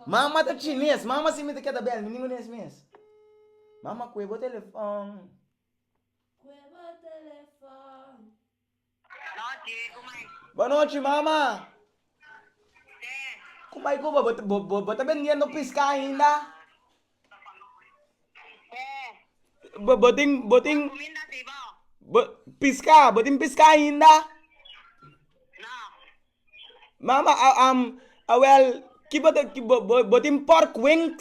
Mama ta chines, mama si mi ta keda bel mi ni munes mes. Mama kue bo telefon. Bonochi mama. Ku bai ku bo, bo ta bendiendo piska ainda? Bo, bo tin, bo tin, bo piská, bo tin piská ainda? Mama, a, am, awèl, ki bo ta, bo, bo tin pòrkwings?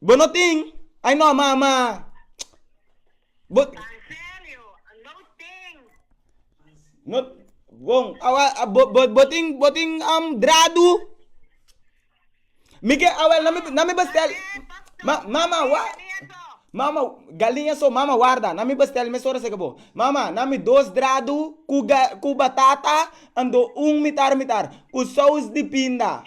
Bo no tin? Ay no ma ma bo no bon awa bo bo bo tin bo tin um dradu mi ke awel na mi na mi bestel ma mama wa mama galinha so mama warda na mi bestel mes ora seke bo mama na mi dos dradu ku ga ku batata ando un mitar mitar ku sous di pinda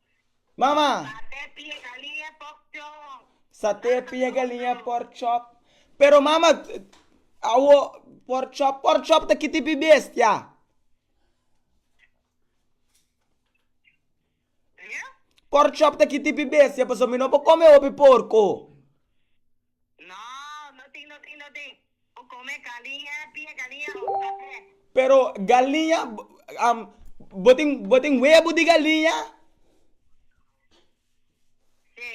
Mama! Sa te pie galinha pork chop. Sa te pie galinha pork chop. Pero mama, awo pork chop, pork chop ta ki tipi bestia? Pork chop ta ki tipi bestia, paso mi no por come hopi porco. No, no tin, no tin, no tin. Bo come galiña, pia galiña of café? Pero galiña, um, bo tin, bo tin huevo di galiña? Sí.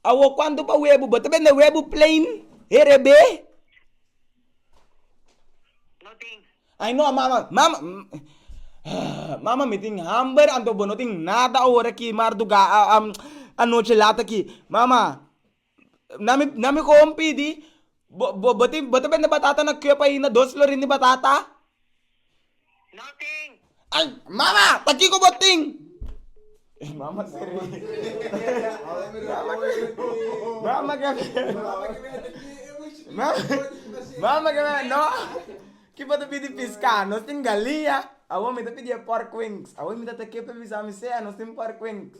Awo cuánto pa huevo? Bo te vende huevo plain, RB? No tin. Ay no, mama, mama, mm, ah, mama mi tin hamber, anto bo no tin nada ahora aquí, marduga, ah, um, anoche laat aquí. Mama, Na mi koon pidi, bo ta bende batata na Cup ainda, dos florin di batata? No tin. Ay, mama, ta kiko bo tin? Mama se ri. Mama ke mama ke mene, no, ki bo ta pidi piska, nos tin galia, awor mi ta pidi e porkwings, awor mi tata Cup a bisa mi, sea, nos tin porkwings.